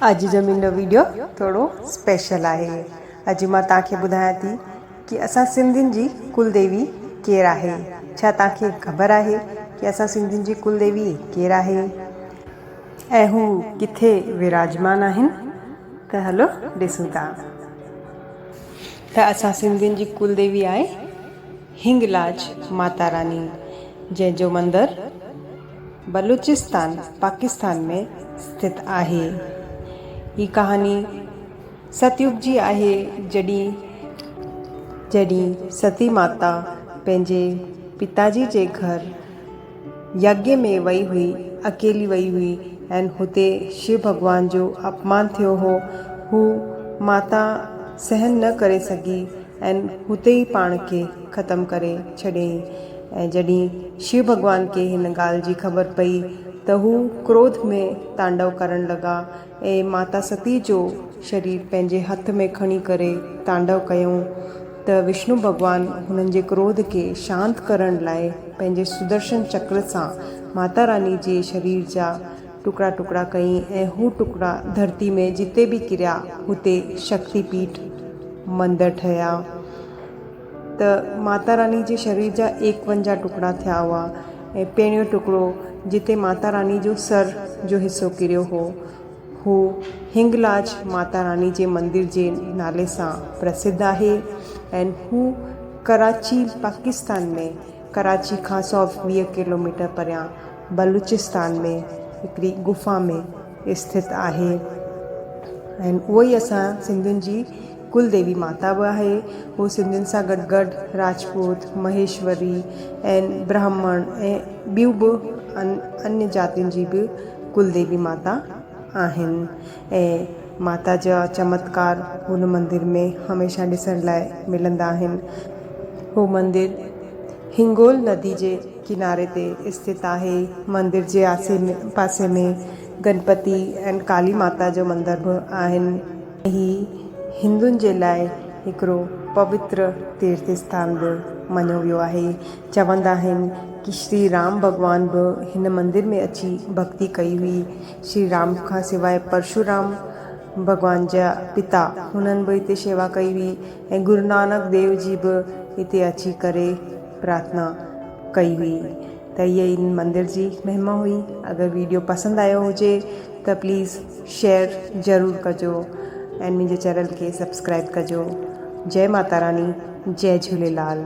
اڄ جو منھنجو ويڊيو ٿورو اسپيشل آھي اڄ مان توھان کي ٻڌايان ٿي ڪي اسان سنڌين جي ڪل ديوي ڪير آھي ڇا توھان کي خبر آھي ڪي اسان سنڌين جي ڪل ديوي ڪير آھي ۽ ھو ڪٿي وراجمان آھن ته ھلو ڏسون ٿا ته اسان سنڌين جي ڪل ديوي آھي ھنگلاج ماتا راني جنھن جو مندر بلوچستان پاڪستان ۾ استٿ آهي. هي ڪهاڻي ست يگ جي آهي جڏهن جڏهن ستي ماتا پنهنجي پتاجي جي گهر يگي ۾ وئي هئي اڪيلي وئي هئي ۽ هتي شو ڀڳوان جو اپمان ٿيو هو هو ماتا سهن نه ڪري سگهي ۽ هتي ئي پاڻ کي ختم ڪري ڇڏيائين ۽ جڏهن شو ڀڳوان کي هن ڳالهه جي خبر پئي ته هو ڪروڌ ۾ تانڊو ڪرڻ لڳا ۽ ماتا ستي جو شرير پنهنجي هٿ ۾ کڻي ڪري تانڊو ڪيائون ته وشنو ڀڳوان هنن جي ڪروڌ کي شانت ڪرڻ لاء پنهنجي سدرشن چڪر سان ماتا راني جي شرير جا ٽڪڙا ٽڪڙا ڪيائين ۽ هو ٽڪڙا ڌرتي ۾ جتي به ڪريا هتي شڪتي پيٺ مندر ٺهيا. ته ماتا راني جي شرير جا ايڪونجاهه ٽڪڙا ٿيا هئا ۽ پهريون ٽڪڙو جتي ماتا راني جو سر جو حصو ڪريو هو هو هنگلاج ماتا راني جي مندر جي نالي سان پرسڌ آهي ۽ هو ڪراچي پاڪستان ۾ ڪراچي کان سؤ ويهه ڪلوميٽر پريان بلوچستان ۾ هڪڙي غفا ۾ اسٿت آهي ۽ اهو ئي اسان سنڌين جي ڪل ديوي ماتا به آهي. هو سنڌين سان گڏ گڏ راجپوت، مهيشوري ۽ برهمڻ ۽ ٻيون به اڃ جاتين جي به ڪل ديوي ماتا آهن ۽ ماتا جا چمتڪار هن مندر ۾ هميشه ڏسڻ لاء ملندا آهن. هو مندر هنگول ندي جي ڪناري تي استٿ آهي. مندر جي آسي پاسي ۾ گنپتي ۽ ڪالي ماتا جو مندر به آهن. هي هندن جي لاء هڪڙو پوتر تيرٿ اسٿان به مڃيو ويو آهي. چوندا آهن ته شري رام ڀڳوان به هن مندر ۾ اچي ڀڳتي ڪئي هئي. شري رام کان سواء پرشو رام، ڀڳوان جا پتا، هنن به هتي شيوا ڪئي هئي ۽ گرونانڪ ديو جي به هتي اچي ڪري پرارٿنا ڪئي هئي. ته هيء ان مندر جي مهما هئي. اگر ويڊيو پسند آيو هجي ته پليز شيئر ضرور ڪجو ۽ منهنجي چينل کي سبسڪرائب ڪجو جئي ماتا راڻي جئي جهوليلال.